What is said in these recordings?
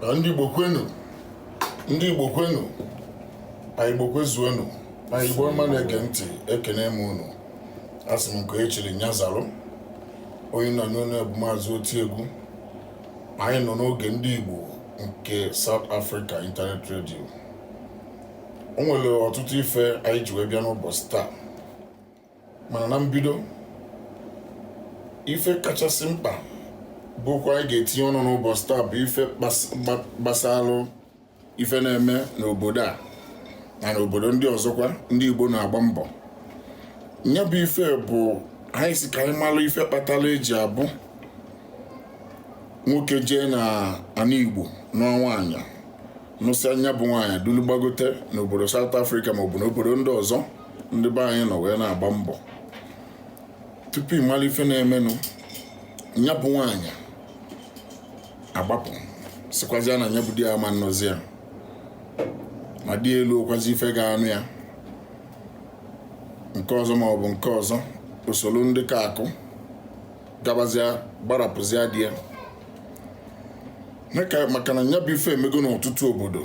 na ndị Igbo kwenu ndị Igbo kwenu anyị Igbo kwezuonu anyị Igbo ọma na-ege ntị ekene m unu asị m nke e chiri nya zalụ onye unu na-anụ onu ya bụ maazị Otiegwu anyị nọ n'oge ndị Igbo nke South Africa Internet Radio o nwere ọtụtụ ife anyị ji wee bịa n'ụbọchị taa mana na mbido ife kachasị mkpa bụ okwu anyị ga-etinye ọnụ n'ụbọchị taa bụ ife gbasalụ ife na-eme n'obodo a na n'obodo ndị ọzọkwa ndị Igbo na-agba mbọ ya bụ ife bụ anyị sị ka anyị malụ ife kpatara eji abụ nwoke jee na ana Igbo nụọ nwaanyị nụsịa nya bụ nwaanyị dulu gbagote n'obodo South Africa maọbụ n'obodo ndị ọzọ ndị be anyị nọ wee na-agba mbọ tupu ịmalụ ife na-emenụ nya bụ nwaanyị agbapụ sịkwazịa na nya bụ di ya ama nụzi ya ma di elurokwazi ife ga-anụ ya nke ọzọ ma ọ bụ nke ọzọ o soro ndị ka akụ gabazịa gbarapụzịa di ya maka na nya bụ ife emego n'ọtụtụ obodo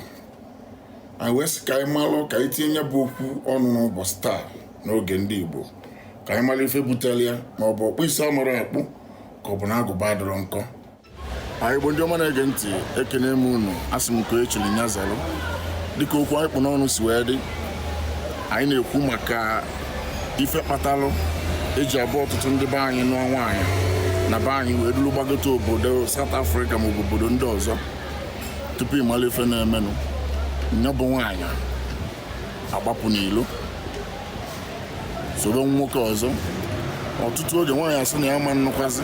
anyị wee sị ka anyị malụ ka anyị tinye nya bụ okwu ọnụ n'ụbọchị taa n'oge ndị Igbo ka anyị malụ ife butere ya ma ọ bụ ọkpụ isi amarọ akpụ ka ọ bụ na agụba adịrọ nkọ anyị Igbo ndị ọma na-ege ntị ekene m unu asị m nke e chiri nya zalụ dịka okwu anyị kpụ n'ọnụ si wee dị anyị na-ekwu maka ife kpatalụ eji abụ ọtụtụ ndị be anyị nụọ nwaanyị na be anyị wee duru gbagote obodo South Africa maọbụ obodo ndị ọzọ tupu ịmalụ ife na-emenụ nya bụ nwaanyị agbapụ n'ilo soro nwoke ọzọ ọtụtụ oge nwaanyị asị na ya ama nụkwazi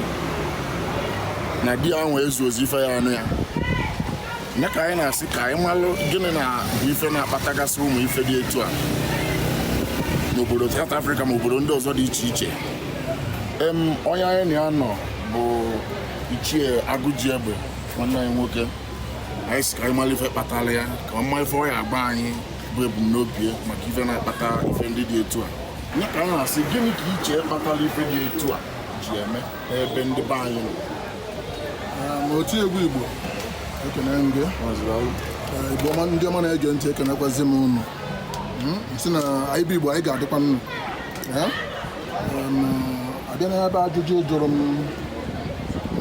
na di ya nwa ezurozi ife ya anụ ya nya ka anyị na-asị ka anyị malụ gịnị na bụ ife na-akpatagasị ụmụ ife dị etu a n'obodo South Africa ma obodo ndị ọzọ dị iche iche em onye anyị na ya nọ bụ Ichie Agụjiegbe nwanne anyị nwoke anyị sị ka anyị malụ ife kpatara ya ka ọ ma ife ọ ya agwa anyị bụ ebumnobi ya maka ife na-akpata ife ndị dị etu a nya ka anyị na-asị gịnị ka i che kpatara ife dị etu a ji eme ebe ndị be anyị nọ Otiegwu Igbo ekene m gị Igbo ndị ọma na-ege ntị ekenekwazi m unu sị na anyị bụ Igbo anyị ga-adịkwanụ a bịa n'ebe ajụjụ ị jụrụ m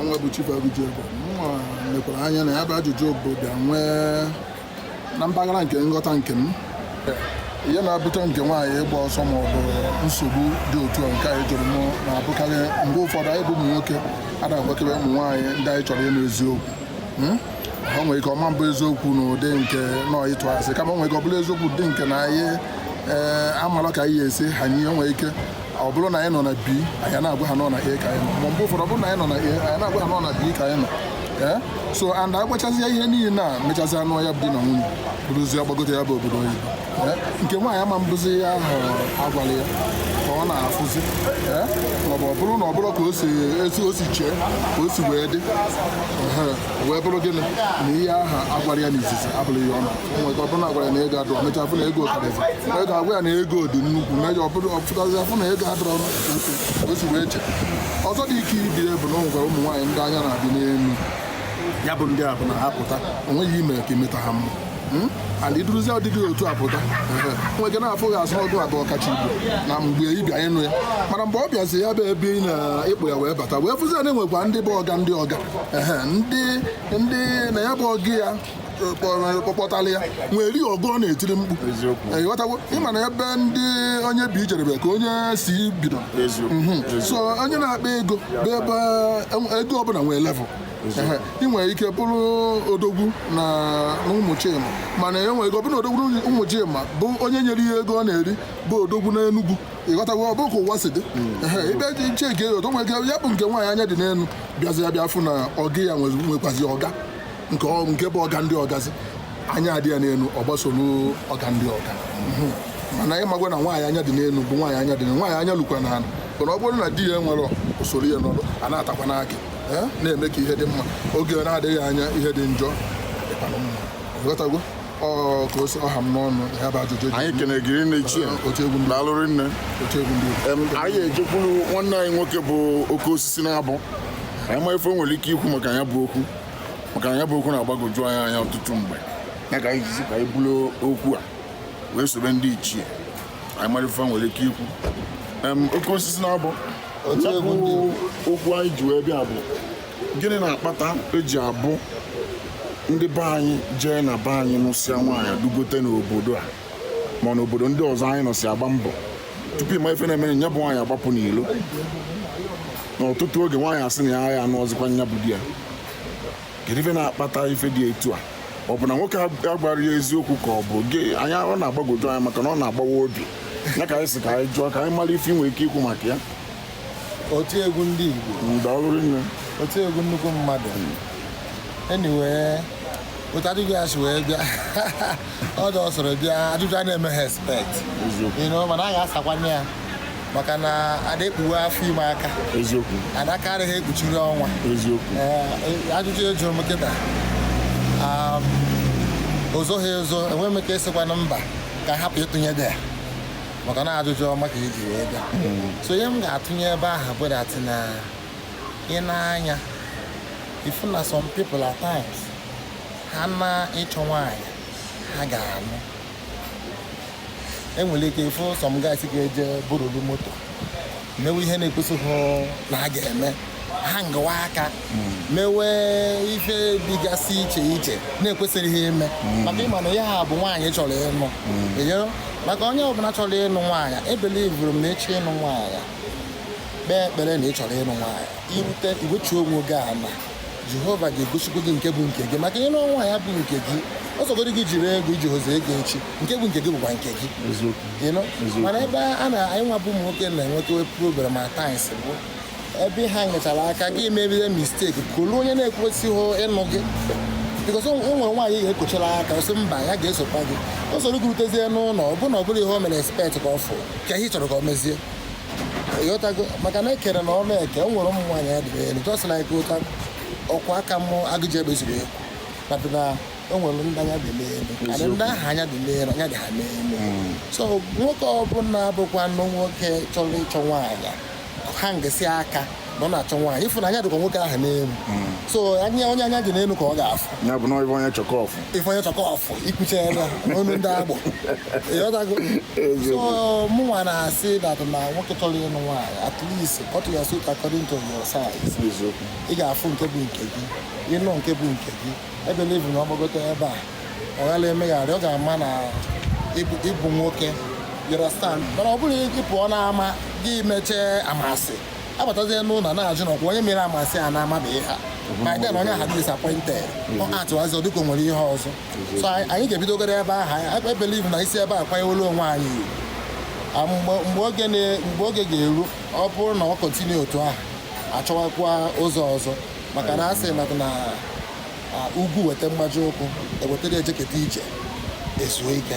nwa bụ chief Agụjiegbe nwa mekwara anya na ya bụ ajụjụ bụ bịa nwee na mpaghara nke nghọta nke m ihe na-ebute nke nwaanyị ịgba ọsọ ma ọ bụ nsogbu dị otu a nke a ị jụrụ m na-abụkarị mgbe ụfọdụ anyị bụ ụmụ nwoke ada agwakebe ụmụ nwaanyị ndị anyị chọrọ ịnụ eziokwu hmm? o nwere ike ọ ma abụ eziokwu na ụdị nke na ọ ịtụ asị kama nwere ike ọ bụrụ eziokwu dị nke na anyị ee eh, amalọ ka anyị esi ha nye o nwere ike ọ bụrụ na anyị nọ na B anyị na-agwa ha na ọ na A ka anyị nọ ma mgbe ụfọdụ ọ bụrụ na anyị nọ na A anyị na-agwa ha na ọ na B ka anyị nọ ee so and agwachazie ihe niile na mechazia anụ ya bụ di na nwunye bụrụzie gbagote ya bụ obodo oyibo ee nke nwaanyị ama abụzi ihe ahụ a gwala ya ka ọ na-afụzi ee maọbụ ọ bụrụ na ọ bụrọ ka o si etu o si chee ka o si wee dị ehe, wee bụrụ gịnị na ihe ahụ a gwara ya n'izizi abụrọ ihe ọ na o nwere ike ọ bụrụ na a gwara ya na ego adịrọ mechaa fụ na ego karịrị o nwere ike a gwa ya na ego dị nnukwu mechaa ọ pụtazi a fụ na ego adịrọ o si wee chee ọzọ dị ka ibe bụ na o nwekwara ụmụ nwaanyị ndị anya na-adị n'elu ya bụ ndị a bụ na ha pụta o nweghị ihe i me ka i meta ha mma hmm? and i duruzi ụdị dị otu a pụta nwee ike na-afụ gị as ọ gị bụ ọkacha igbo na mgbe ị bịa ịnụ ya mana mgbe ọ bịazi ya bụ ebe ị na-ekpo ya wee bata wee fụzi na e nwekwa ndị bụ ọga ndị ọga ndị ndị na ya bụ ọga ya kpọkpọtala ya nwere ihe ọga ọ na-etiri mkpu ị ghọtago ị ma na ebe ndị onye bi jedebe ka onye si bido mhm. so onye na-akpa ego bụ ebe e, ego ọbụla nwere level ị nwere ike bụrụ odogwu na Ụmụchima mana e nwere ike ọ bụrụ na odogwu Ụmụchima bụ onye nyere ihe ego ọ na-eri bụ odogwu n'Enugwu ị ghọtago ọ bụ ka ụwa si dị hmm. ebe dị iche nke otu nwere ike ya bụ nke nwaanyị anya dị n'elu bịazi ya bịa fụ na ọga ya nwekwazi ọga nke ọ- nke bụ ọga ndị ọgazi anya adị ya n'elu ọ gbasoro ọga ndị ọga Mhm. mana ị makwa na nwaanyị anya dị n'elu bụ nwaanyị anya dị n'elu nwaanyị anya lukwa n'ala mana ọ bụrụ na di ya enwerọ o soro ya nọrọ a na-atakwanụ akị eh, na-eme ka ihe dị mma oge na-adịghị anya ihe dị njọ dịkwanụ mma ghọtago ọ ka o si ha m n'ọnụ ya bụ ajụjụ dị anyị kenee gị rinne ichie otu egwu ndị daalụ rinne otu egwu ndị Igbo. Em, anyị ejekwuru nwanne anyị nwoke bụ oke osisi na-abụ anyị ma ife o nwere ike ikwu maka ya bụ okwu maka na ya bụ okwu na-agbagoju anyị anya ọtụtụ mgbe ya ka anyị ji sị ka anyị buru okwu a wee sobe ndị ichie anyị mara ife ha nwere ike ikwu Em, oke osisi na-abụ Otu egwu ndị ya bụ okwu anyị ji wee bịa bụ gịnị na-akpata eji abụ ndị be anyị jee na be anyị nụsịa nwaanyị dugote n'obodo a ma na obodo ndị ọzọ anyị nọsị agba mbọ tupu ị ma ife na-emere nya bụ nwaanyị agbapụ n'ilo n'ọtụtụ oge nwaanyị asị na ya anụrọzịkwa nya bụ di ya kedu ife na-akpata ife dị etu a ọ bụ na nwoke agwarọ ya eziokwu ka ọ bụ gịnị ọ na-agbagwoju anya maka na ọ na-agbawa obi ya ka anyị sị ka anyị jụọ ka anyị mara ife ị nwere ike ikwu maka ya otu egwu ndị Igbo ndalụrụ nne otu egwu nnukwu mmadụ anyway otu ajụjụ a si wee bịa ọ dị ọsọrọ bịa ajụjụ a na-emeghị expect eziokwu you know mana a ga-asakwanye ya maka na a da-ekpuwe afọ ime aka eziokwu ada aka adịghị ekpuchiri ọnwa eziokwu Ee, ajụjụ ị jụrụ m kịta um, o zoghị ezo enwe m ike ịsịkwanụ mba ka a hapụ ịtụnye idea maka na ajụjụ ọma ka e ji wee bịa so ihe m ga-atụnye ebe ahụ bụ that na ị na-anya ịfụ na some people at times ha na ịchọ nwaanyị ha ga-anụ e nwere ike ịfụ some guys ga-eje burulu moto mewe ihe na-ekwesịghị na ha ga-eme hangawa aka mewe ife dịgasị iche iche na-ekwesịrịghị ime maka ịma na ya ha bụ nwaanyị chọrọ ịnụ Eyo, maka onye ọbụla chọrọ ịnụ nwaanyị ebelivuru m na ị chọọ ịnụ nwaanyị kpee ekpere na ị chọrọ ịnụ nwaanyị i rute i wechuo onwe gị ala jehova ga-egosikwa gị nke bụ nke gị maka na nwaanyị bụ nke gị ọ sọgodi gị jiri ego i jihozi ego echi nke bụ nke gị bụkwa nke gị mana ebe anyị nwa bụ ụmụ nwoke na-enweta problem at times bụ ebe ha nyechara aka gị mebie mistake kolu onye na-ekwesịghị ịnụ gị because o nwere nwaanyị ga-ekochara aka ọ sị mba ya ga-esokwa gị o soro gị rutezie n'ụlọ ọ bụrụ na ọ bụrọ ihe o mere expect ka ọ fụ kee ihe ị chọrọ ka o mezie ị ghọtago maka na e kere n'ọnụ eke e nwere ụmụ nwaanyị anya dị n'elu just like otu ọkwa aka m Agụjiegbe zuru ekwu but na o nwere ndị anya dị n'elu and ndị ahụ anya dị n'elu anya dị ha n'elu so nwoke ọbụla bụkwanụ nwoke chọrọ ịchọ nwaanyị hangisi aka na ọ na-achọ nwaanyị ị fụ na anya dịkwa nwoke ahụ n'elu so anya onye anya dị n'elu ka ọ ga-afụ ya bụ na ife onye chọ ka ọ fụ ife onye chọ ka ọ fụ i kwucha ya n'ọnụ ndị agbọ ị ghọtago so mụnwa na-asị that na nwoke chọrọ ịnụ nwaanyị at least cut your suit according to your size eziokwu ị ga-afụ nke bụ nke gị ị nụ nke bụ nke gị ebelivu na ọ gbagote ebe a ọ ghala emegharị ọ ga-ama na ị bụ ị bụ nwoke you understand mana ọ bụrụ na ị pụọ n'ama gị mechee amansị abatazie n'ụlọ na-ajụ na ọ kwa onye mere amansị a n'ama bụ ihe a then onye ahụ adị disappointed ọ atụwazi ọ dịka o nwere ihe ọzọ so anyị anyị ga-ebidogoro ebe ahụ anyị ebelivu na i si ebe a kwanyewolu onwe anyị ugwu. Ah, mgbe mgbe oge na- mgbe oge ga-eru ọ bụrụ na ọ continue otu ahụ a chọwakwa ụzọ ọzọ maka na a sị na na ah, ugwu weta mgbaji ukwu e wetara ejeketa ije ezuo ike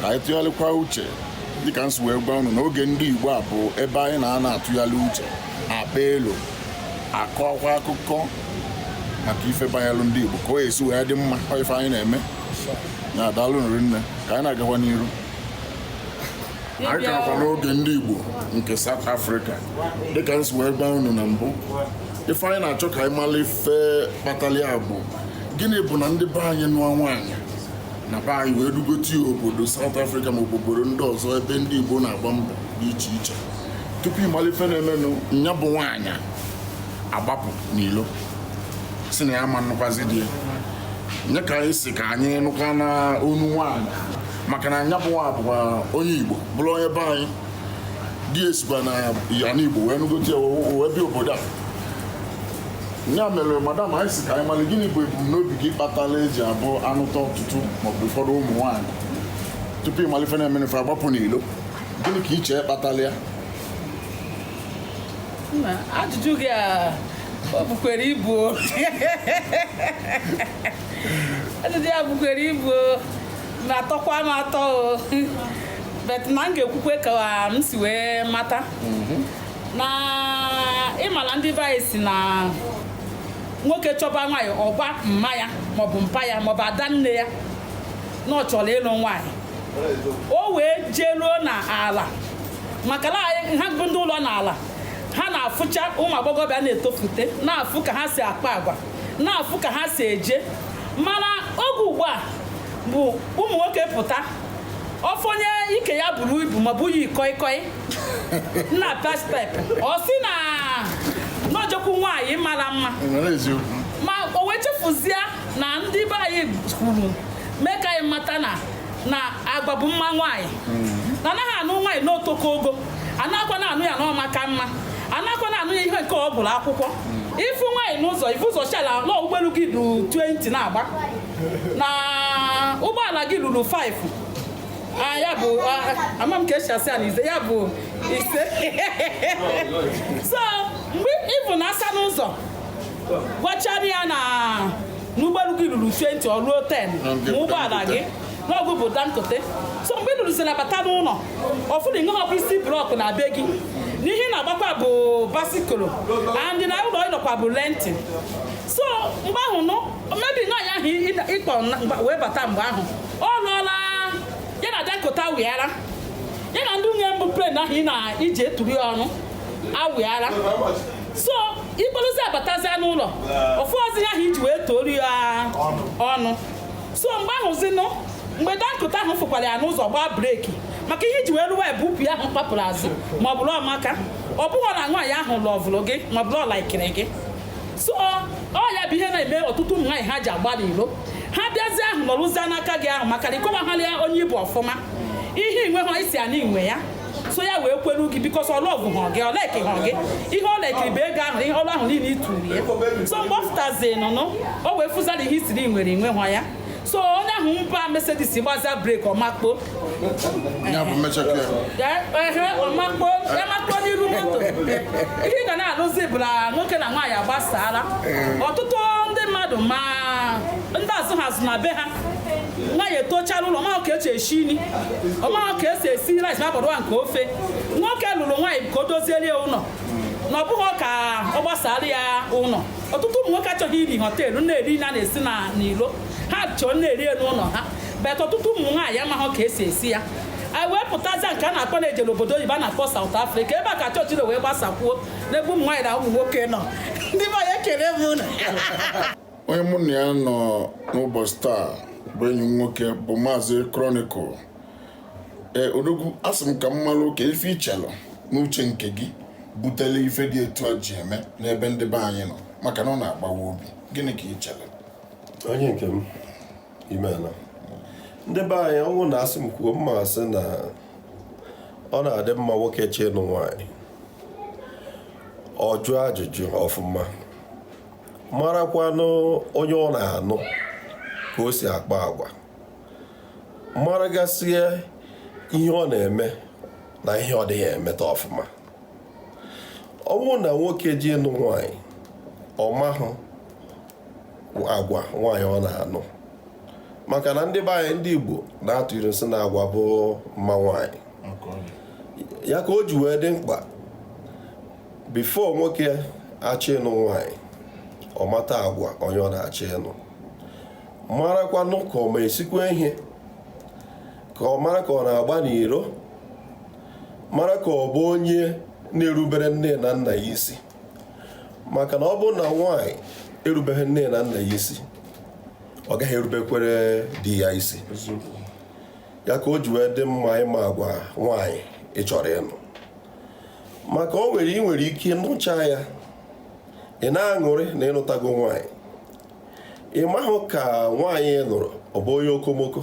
ka anyị tụgharịkwa uche dịka nsi wee gwa unu n'oge ndị Igbo a bụ ebe anyị na-anọ atụgharị uche akpa elo akọkwa akụkọ maka ife banyelụ ndị Igbo ka o esi wee dị mma ife anyị na-eme na daalụ rinne ka anyị na-agakwa n'iru anyị kakwa n'oge ndị Igbo nke South Africa dịka nsi wee gwa unu na mbụ ife anyị na-achọ ka anyị mara ife kpatara ya bụ gịnị bụ na ndị be anyị nụọ nwaanyị na be anyị wee dugote ya obodo South Africa ma obodo ndị ọzọ ebe ndị Igbo na-agba mbọ dị iche iche tupu ị mara ife na-emenụ nya bụ nwaanyị agbapụ n'ilo si na ya ma nụkwazi di nya ka anyị si ka anyị nụkwa n'ọnụ nwaanyị maka na nya bụ nwa bụkwa onye Igbo bụrụ onye be anyị di ya sikwa n'anị Igbo wee nụgote ya wee bịa obodo a ya mere madam anyị si ka anyị mara gịnị bụ ebumnobi gị kpatara e ji abụ a nụta ọtụtụ maọbụ ụfọdụ ụmụ nwaanyị tupu ị malụ ife na-emenụ fa agbapụ n'ilo gịnị ka i che kpatara ya Nna, ajụjụ gị a o bukwere ibu o. ajụjụ ya bukwere ibu o. na-atọkwa m atọ o but na m ga-ekwukwe ka m si wee mata na ị mala ndị be anyị sị na nwoke chọba nwaanyị ọ gwa mma ya maọbụ mpa ya maọbụ ada nne ya na ọ chọrọ ịlụ nwaanyị o wee jee ruo na ala maka na anyị- ha bụ ndị ụlọ na ala ha na-afụcha ụmụ agbọghọbịa na-etofute na-afụ ka ha si akpa agwa na-afụ ka ha si eje mana oge ugbu a bụ ụmụ nwoke pụta ọ fụ onye ike ya buru ibu maọbụ o yi koi koi na-apa step ọ sị na n'o jekwu nwaanyị mara mma ma o wee chefuzie na ndị be anyị kwuru mee ka anyị mata na na agwa bụ mma nwaanyị mm. na anaghị anụ nwaanyị n'o toka ogo anakwa na anụ ya n'ọ maka mma anakwa na anụ ya ihe nke ọ gụla akwụkwọ mm. ị fụ nwaanyị n'ụzọ i bu ụzọ shala na ụgbọelu gị ruru 20 na-agba na ụgbọala gị ruru 5 Ah, ya bụ ah, ama m ka e si asị ya na ize ya bụ ise so mgbe ịbụ na asa n'ụzọ gwachara ya na n'ụgbọelu gị ruru 20 ọ ruo 10 ma ụgbọala gị n'ọ gị bụ Dangote so mgbe ị lụrụzi ya bata n'ụlọ ọ fụrọ ihe bụ isi block na be gị n'ihe ị na-agbakwa bụ bicycle and na ụlọ ị nọkwa bụ rent so mgbe ahụ nụ maybe nwaanyị ahụ ị kpọ wee bata mgbe ahụ ọ nọọla ya na dakota wịara ya na ndị nwunye mbụ plen ahụ ị na-eji eturu ya ọnụ awịara so ị kpọrọzi ya batazia n'ụlọ ọ fụọzi ihe ahụ i ji wee toru ya ọnụ so mgbe ahụ zinụ mgbe dakota ahụ fụkwara ya n'ụzọ gbaa brake maka ihe i ji wee rụwa ebe upi ahụ kpapụrụ azụ ma ọ bụrụ ọmaka ọ bụghị na nwaanyị ahụ lọvụrụ gị ma ọ bụrụ ọ laikiri gị so ọ ya bụ ihe na-eme ọtụtụ ụmụ nwaanyị ha ji agba n'ilo ha bịazie ahụ nọrụzie n'aka gị ahụ maka na ị kọwaghara ya onye ị bụ ọfụma ihe i nweha i si ya na i nwe ya so ya wee kwere gị because ọ lọvụha gị ọ laikịha gị ihe ọ laikiri bụ ego ahụ ihe ọnụ ahụ niile i turu ya so mgbe ọ fụtazi n'ụnọ o wee fụzia na ihe i siri i nwere i nweha ya so onye ahụ gba Mercedes gbazia brake ọ makpo ọ makpo ọ makpo n'iru moto ihe ị ga na-anụzi bụ na nwoke na nwaanyị agbasala ọtụtụ ndị mmadụ ma ndị azụha azụ na be ha nwaanyị etochaa n'ụlọ ọ mahụ ka e si esi nri ọ mahụ ka e si esi rice ma bụrụ nke ofe nwoke lụrụ nwaanyị ka o doziere ya ụlọ na ọ bụghị ka ọ gbasara ya ụlọ ọtụtụ ụmụ nwoke achọghị iri hotel na-eri nri a na-esi n'ilo ha chọọ na-eri n'ụlọ ha but ọtụtụ ụmụ nwaanyị amaghị ka e si esi ya anyị wee pụtazie nke a na-akpọ na-eje n'obodo oyibo a na-akpọ South Africa ebe a ka chọọchị na wee gbasakwuo n'ebe ụmụ nwaanyị na ụmụ nwoke nọ ndị be anyị ekele m ụnụ onye mụ na ya nọ n'ụbọchị taa bụ enyi m nwoke bụ maazị Chronicle ee eh, odogwu asị m ka m mara ka ife i chelụ n'uche nke gị butele ife dị etu a ji eme n'ebe ndị be anyị nọ maka na ọ na-agbawa obi gịnị ka i chelụ onye nke m imeela ndị be anyị ọ wụ na a sị m kwuo m ma-asị na ọ na-adị mma nwoke chọọ ịnụ nwaanyị ọ jụọ ajụjụ ọfụma marakwanụ onye ọ na-anụ ka o si akpa agwa maragasịa ihe ọ na-eme na ihe ọ dịghị emeta ọfụma ọ bụrụ na nwoke je ịnụ nwanyị ọ mahụ agwa nwanyị ọ na-anụ maka na ndị be anyị ndị Igbo na-atụ ilu sị na agwa bụ mma nwanyị ya ka o ji wee dị mkpa before nwoke achọ ịnụ nwanyị ọ mata agwa onye ọ na-achọ ịnụ marakwanụ ka ọ ma esikwa ihe ka ọ mara ka ọ na-agba n'iro mara ka ọ bụ onye na-erubere nne na nna ya isi maka na ọ bụrụ na nwaanyị erubeghị nne na nna ya isi ọ gaghị erubekwere di ya isi ya ka o ji wee dị mma ịma agwa nwaanyị ị chọrọ ịnụ maka o nwere ị nwere ike nụcha ya ị na-aṅụrị na ị nụtago nwaanyị ị mahụ ka nwaanyị ị nụrụ ọ bụ onye okomoko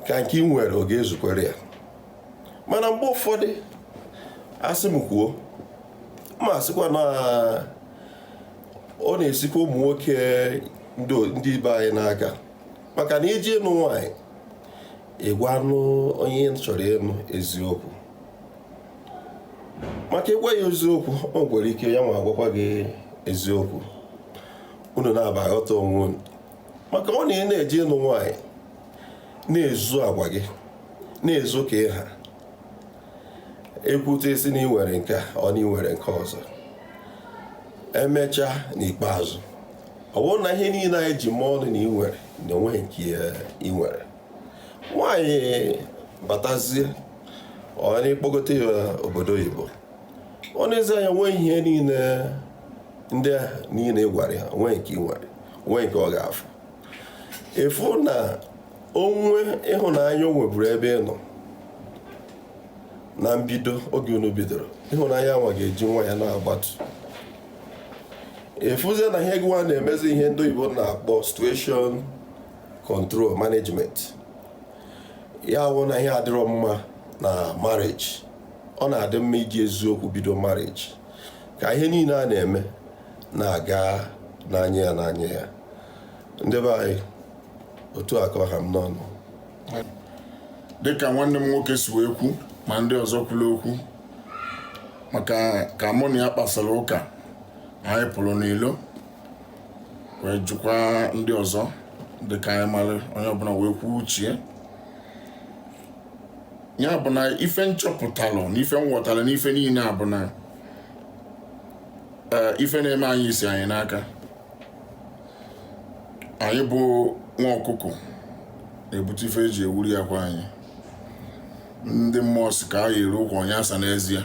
ka nke ị nwere ọ ga-ezukwere ya mana mgbe ụfọdụ a sị m kwuo m asịkwa na ọ na-esikwa ụmụ nwoke ndị be anyị n'aka maka na i je ịnụ nwaanyị ị gwanụ onye ị chọrọ ịnụ eziokwu maka ị gwa ya eziokwu o nwere ike ya nwa agwakwa gị eziokwu unu naabọ aghọta onwe unu maka ọ na ị na-eje ịnụ nwaanyị na-ezo agwa gị na-ezo ka ị ha ekwute ị sị na i nwere nke a ọ na i nwere nke ọzọ emechaa n'ikpeazụ ọ bụrụ na ihe niile anyị ji mee ọnụ na i nwere na o nweghị nke i nwere nwaanyị batazie ọ na ị kpọgote ya obodo oyibo o nezie anya nwee ihe niile ndị a niile ị gwara ya o nweghị nke i nwere o nweghị nke ọ ga-afụ ị fụ na nwa ịhụnanya o nweburu ebe ị nọ na mbido oge unu bidoro ịhụnanya nwa ga-eji nwayọ na-agbatu ị fụzie na ihe gịwa na-emezi ihe ndị oyibo na-akpọ situation control management ya wụ na ihe adịrọ mma na marriage ọ na-adị mma iji eziokwu bido marriage ka ihe niile a na-eme na-aga n'anya ya n'anya ya ndị be anyị otu a ka ọ ha m n'ọnụ dịka nwanne m nwoke si wee kwu ma ndị ọzọ kwuru okwu maka ka mụ na ya kpasara ụka anyị pụrụ n'ilo wee jụkwa ndị ọzọ dị ka anyị mara onye ọbụla wee kwuo uche ya bụ na ife m chọpụtalụ na ife m ghọtara n'ife niile a bụ na eh, ife na-eme anyị si anyị n'aka anyị bụ nwa ọkụkọ na-ebute ife eji ewuri akwa anyị ndị mmụọ si ka a yiri ụkwụ onye asa n'ezie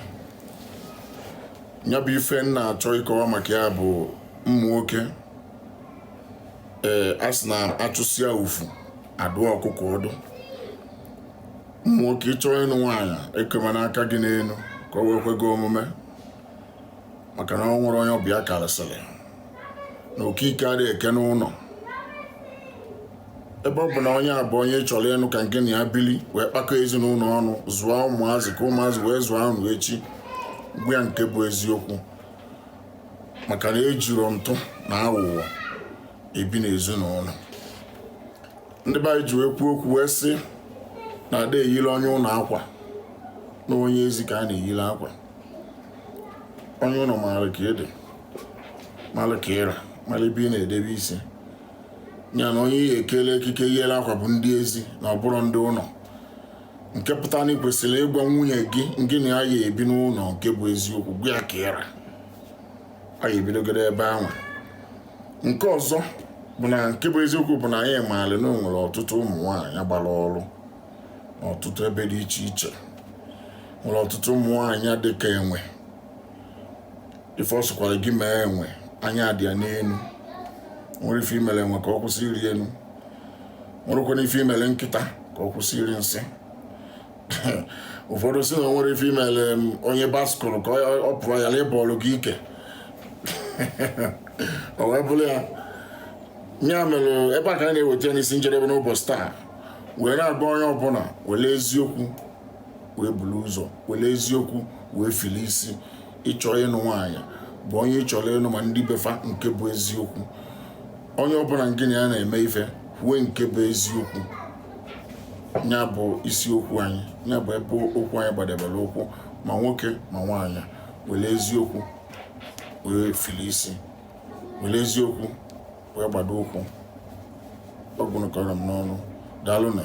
ya bụ ife m na-achọ ịkọwa maka ya bụ ụmụ nwoke ee a sị na a chụsịa ufu adụọ ọkụkọ ọdụ ụmụ nwoke ị chọọ ịnụ nwaanyị ekemana aka gị n'elu ka o wee kwe gị omume maka na o nwere onye ọbịa karịsịrị n'okike adịghị eke n'ụlọ ebe ọ bụ na onye a bụ onye ị chọrọ ịnụ ka ngị na ya bili wee kpakọ ezinụlọ ọnụ zụọ ụmụazị ka ụmụazị wee zụọ unu echi gwa ya nke bụ eziokwu maka na ejiro ntụ na aghụghọ ebi n'ezinụlọ ndị be anyị ji wee kwuo okwu wee sị na a da-eyiri onye ụlọ akwa na onye ezi ka a na-eyiri akwa onye ụlọ maara ka ị dị mara ka ị ra mara ebe ị na-edebe isi ya na onye ị ya-ekele ekike yiri akwa bụ ndị ezi na ọ bụrọ ndị ụlọ nke pụtara na ị kwesịrị ịgwa nwunye gị ngị na ya ya-ebi n'ụlọ nke bụ eziokwu gwa ya ka ị ra a ya ebidogoro ebe ahụ nke ọzọ bụ na nke bụ eziokwu bụ na anyị maara na o nwere ọtụtụ ụmụ nwaanyị gbara ọrụ n'ọtụtụ ebe dị iche iche nwere ọtụtụ ụmụ nwaanyị dị ka enwe ife ọ sọkwara gị mee enwe anya dị ya n'elu nwerọ ife i mere enwe ka ọ kwụsị ịrị elu nwerọkwanụ ife i mere nkịta ka ọ kwụsị iri nsị ụfọdụ sị na o nwerọ ife i mere onye bicycle ka ọ- ọ pụọ ya na ịbọọlụ gị ike o wee bụrụ ya ya mere ebe a ka anyị na-eweta ya n'isi njedebe n'ụbọchị taa wee na-agwa onye ọbụla were eziokwu wee buru ụzọ were eziokwu wee fili isi ị chọọ ịnụ nwaanyị gwa onye ị chọrọ ịnụ ma ndị be fa nke bụ eziokwu onye ọbụla ngị na ya na-eme ife kwuo nke bụ eziokwu ya bụ isiokwu anyị ya bụ ebe okwu anyị gbadebere ụkwụ ma nwoke ma nwaanyị were eziokwu wee fili isi were eziokwu wee gbado ụkwụ ọ gwụnụ ka ọ ra m n'ọnụ daalụ nụ